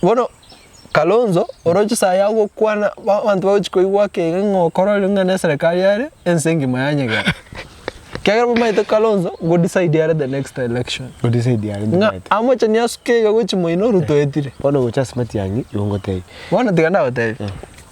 Bono Kalonzo oroche saa ya gokwana abanto bagochi koigwa akegega ng'a okororire ng'a neserekari yare ense engima yanyegena. Ekiagera bamaete Kalonzo go decide are the next election. Go decide are the Ng'a next. amochani asuke iga gochi moino Ruto etire. Bono gocha ase Matiang'i igo ngotebi. Bono tiga ndagotebie.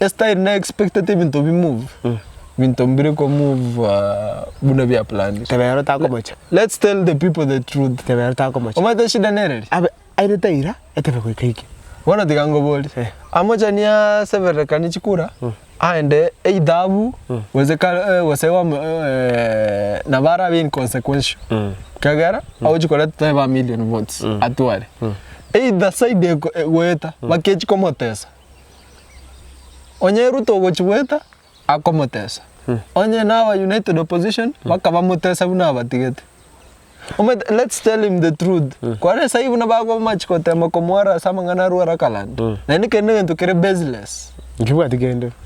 Esitayari na expecta ti ebinto bi move, ebinto mbire ko move ah, buna bia planned. Tebe ero takomocha. Let's tell the people the truth. Tebe ero takomocha. Omanyete eshida nere ri? Abe aire taira etebe goika ike. Bono tiga ngoborie. Eh. Amochani aseberekanie chikura, aende eithabu gose kar- eh, gose ome eh, nabo arabe inconsequential. Ekiagera agochi koreta tebe ba million votes atware. Either side eko- egoeta, bakechia komotesa. Onye Ruto ogochi goeta akomotesa onye naba united opposition bakaba motesa buna abatigete omanyete let's tell him the truth kware sai buna bagomachi gotema komwara ase amang'ana arware akalanda naende kende egento kere baseless. Nkibwati kende.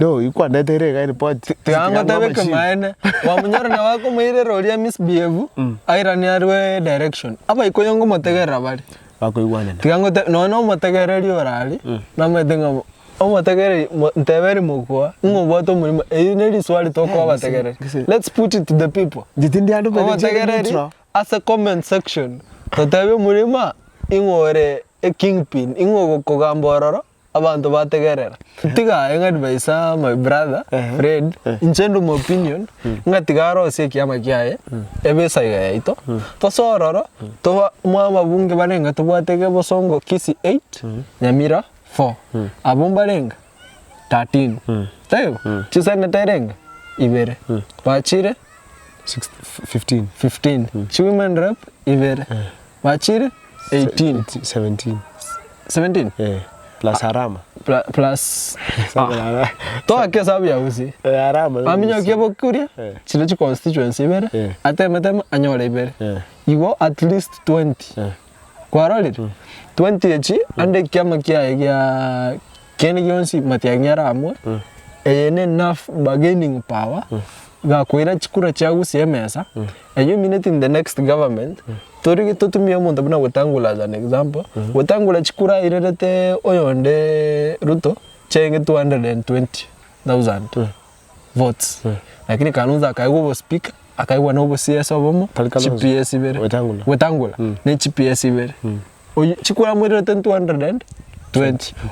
No you kwa ndete ere iga report. Tiangoteba ekemanene, kwamonyora naye akomoirera oria misbehave, airane arue direction. Abaikuyu ngomotegerera bare. Bakoigwanana. Tiga ngote nonye na omotegereri orare, namanyete ng'a omotegereri mo nteberi mogoa, ng'a obwate omorimo eyio ne risuari tokoa abategereri. Let's put it to the people. Inche tindi ande omonto inche ere Omotegereri neutral. ase comment section, totebe omorema ing'o ore ekingpin, ing'o ogokogamba ororo. Abanto bategerera tiga aye ng'a advice my brother Fred inche ndi omopinion ng'a tiga arosie ekiama kiaye ebesa iga yaito gose ororo toba mwababunge barenge tobwate iga bosongo Kisii 8 Nyamira 4 abwo mbarenge 13 taibo chiseneta erenge ibere bachire 15 chiwomen rep ibere. Bachire 18. 17. 17? Eh, plus Arama. Pla- plus- Sabe Ah, nada. toake esabu ya gusii Eh, Arama. no aminyokia Gusii. bokuria Eh. chire chiconstituency ibere Eh. atemeteme anyore ibere Eh. igo at least 20 Eh. kwarorire 20 echi ande ekiama kiaye gia Kende gionsi matiangi are amo, eye ne nerve bargaining power, gakoira chikura chiago ase emesa, and you mean it in the next government, tori totumie omonto buna Wetangula as an example, Wetangula chikura airerete oyonde Ruto chiaenge 220,000. votes lakini Kalonzo akaegwa obo speaker akaegwa nobo CS obomo Tari Kalonzo. GPS ibere Wetangula. Wetangula ne GPS ibere Oyu- chikura amoirerete 220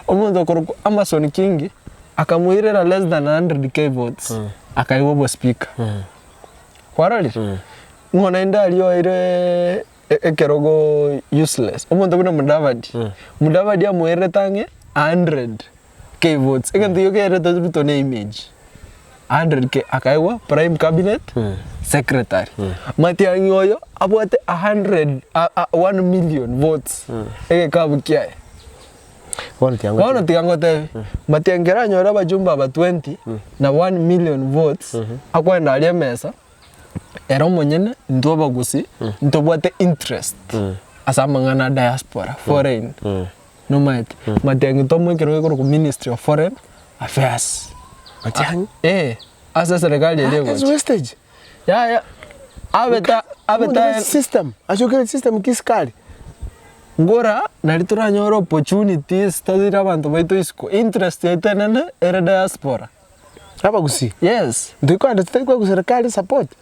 omonto okorokwa Amason Kingi akamoirera less than 100k votes akaegwa obo speaker kwarorire ng'o naende aria oeire e- ekerogo useless omonto buna Mudavadi Mudavadi amoirerete ang'e 100 keyboards egento gioka egeretwe Ruto ne image Andre ke akaegwa prime cabinet secretary Matiang'i oyo abwate a hundred a- a- one million votes egekabu kiaye Bono tiga ngote- bono tiga ngotebi Matiang'i kero anyore abajumbe aba twenty na one million votes akoenda aria emesa ere omonyene intwe abagusii ntobwate interest ase amang'ana a diaspora foreign Nomanyete, Matiang'i ntomo ekero gekorokwa ministry of foreign affairs. Matiang'i? Ee, ase serekari eria egocha. Ase Westech? Yaya, abe ta, abe ta Omonto system, achokire system ki sikari? Ngora nari toranyore opportunities toire abanto baito isiko. Interest yaito enene ere diaspora. Abagusii? Yes. Ntoikoenda titari koegwa serekari support?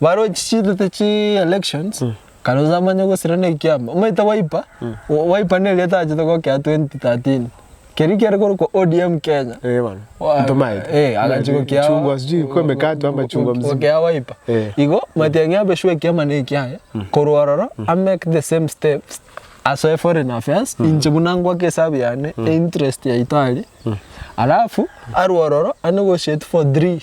Barochi chitete chi elections, karoche amanye gosira ne ekiama. Omanyete Wiper, Wiper ne erieta achete gokea 2013. Keria kiare korokwa ODM Kenya. Eh bono. Into maete. Eh, agachia gokea. Chungwa sijui kwa emekate ama chungwa mzima. Gokea Wiper. Eh. Igo, omanyete yang'ea abe sure ekiama ne ekiaye, korwa ororo, a make the same steps, asoe foreign affairs, inche buna ngoake esabu yane, e interest yaito aria, alafu, arwe ororo, ane gotiate for three.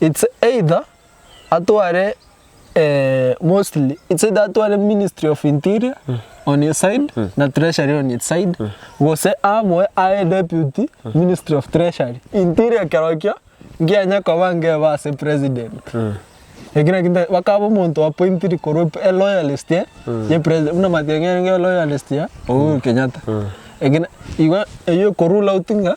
It's either atware mostly it's either atware ministry of interior on his side na treasury on its side gose amoe aye deputy ministry of treasury. Interior kerokio ngianye koba ngebe ase president. Eki naki nta- bakaba omonto o appointed korwa ep- e loyalist eh, ye presi- buna Matiang'i ere nere loyalist ya Uhuru Kenyatta. Eki na- igo eyio eko rule out ng'a.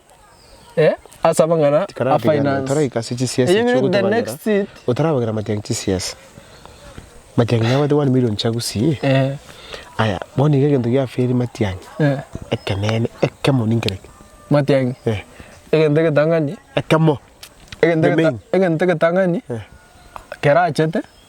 ase amang'ana a finance. Eyinywe the next seat. Otarabagera matiangi chisiasa. Matiangi nabwate one million chia gusii. Aya bono iga egento giaferie matiangi. Ekeneene ekemo ninki reki? Matiangi. Egento egetang'ani. Ekemo. The main. Egento egetang'ani kerachete.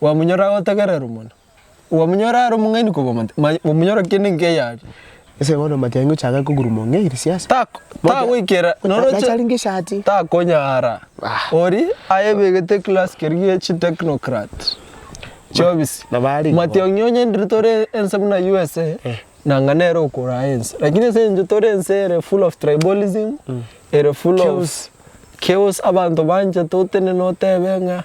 Bwamonyorora agotegererwa mono. Bwamonyorora are omong'aini kobua omonto, maya bwamonyorora kende enka eye are. Ase bono omatianyi ochake koguruma ong'e iri siasa. Tako tagoikera noro Nache aringe eshati. takonyara Ah. ori ayebegete class keria gie chi technocrat chiobisi nabo are igo. matiang'i onye ndiri tore ense buna USA Eh. nanga nere okora aye ense lakini ase encho tore ense ere full of tribalism ere full of Chaos. chaos abanto banchete otenene otebe ng'a